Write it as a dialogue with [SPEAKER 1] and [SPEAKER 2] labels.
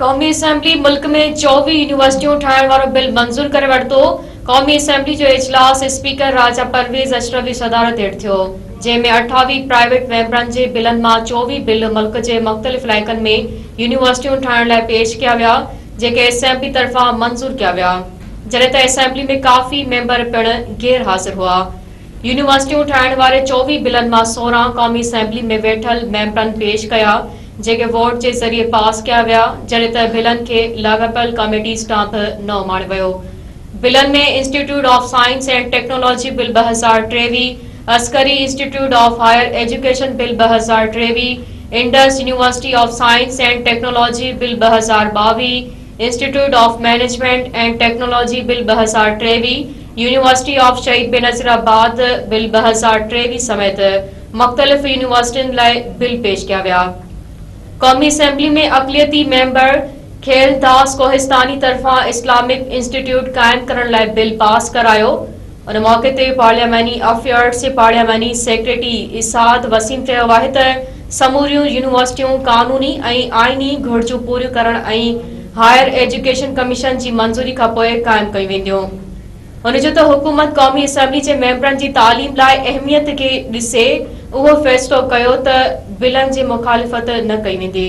[SPEAKER 1] قومي اسيمبلي ملڪ ۾ چوويهه يونيورسٽيون ٺاهڻ وارو بل منظور ڪري ورتو قومي اسيمبلي جو اجلاس اسپيڪر راجا پرويز اشرف جي صدارت هيٺ ٿيو جنهن ۾ اٺاويهه پرائيويٽ ميمبرن جي بلن مان چوويهه بل ملڪ جي مختلف علائقن ۾ يونيورسٽيون ٺاهڻ لاء پيش ڪيا ويا جيڪي اسيمبلي طرفان منظور ڪيا ويا جڏهن ته اسيمبلي ۾ ڪافي ميمبر پڻ غير حاضر هئا يونيورسٽيون ٺاهڻ واري چوويهه بلن مان سورهن قومي اسيمبلي ۾ ويٺل ميمبرن پيش ڪيا جيڪي ووٽ جي ذريعي پاس ڪيا ويا، جڏهن ته بلن کي لاڳاپيل ڪاميٽيز ڏانهن به نه اماڻيو ويو. بلن ۾ institute of science and technology bill ٻه هزار ٽيويهه، Askari institute of higher education bill ٻه هزار ٽيويهه، Indus university of science and technology bill ٻه هزار ٻاويهه، institute of management and technology bill ٻه هزار ٽيويهه، يونيورسٽي آف شهيد بينظير آباد بل ٻه هزار ٽيويهه سميت مختلف يونيورسٽين لاء بل پيش ڪيا ويا. قومي اسيمبلي ۾ اقليتي ميمبر کيل داس ڪوهستاني طرفان اسلامڪ انسٽيٽيوٽ قائم ڪرڻ لاء بل پاس ڪرايو. ان موقعي تي پارلياماني افيئرز جي پارلياماني سيڪريٽري اسعد وسيم چيو آهي ته سموريون يونيورسٽيون قانوني ۽ آئيني گهرجون پوريون ڪرڻ ۽ هائر ايجوڪيشن ڪميشن جي منظوري کانپوء قائم ڪيون وينديون. هن چيو ته حڪومت قومي اسيمبلي جي ميمبرن جي تعليم لاء اهميت کي ڏسي اهو فيصلو ڪيو ته بلن جي مخالفت نه ڪئي ويندي.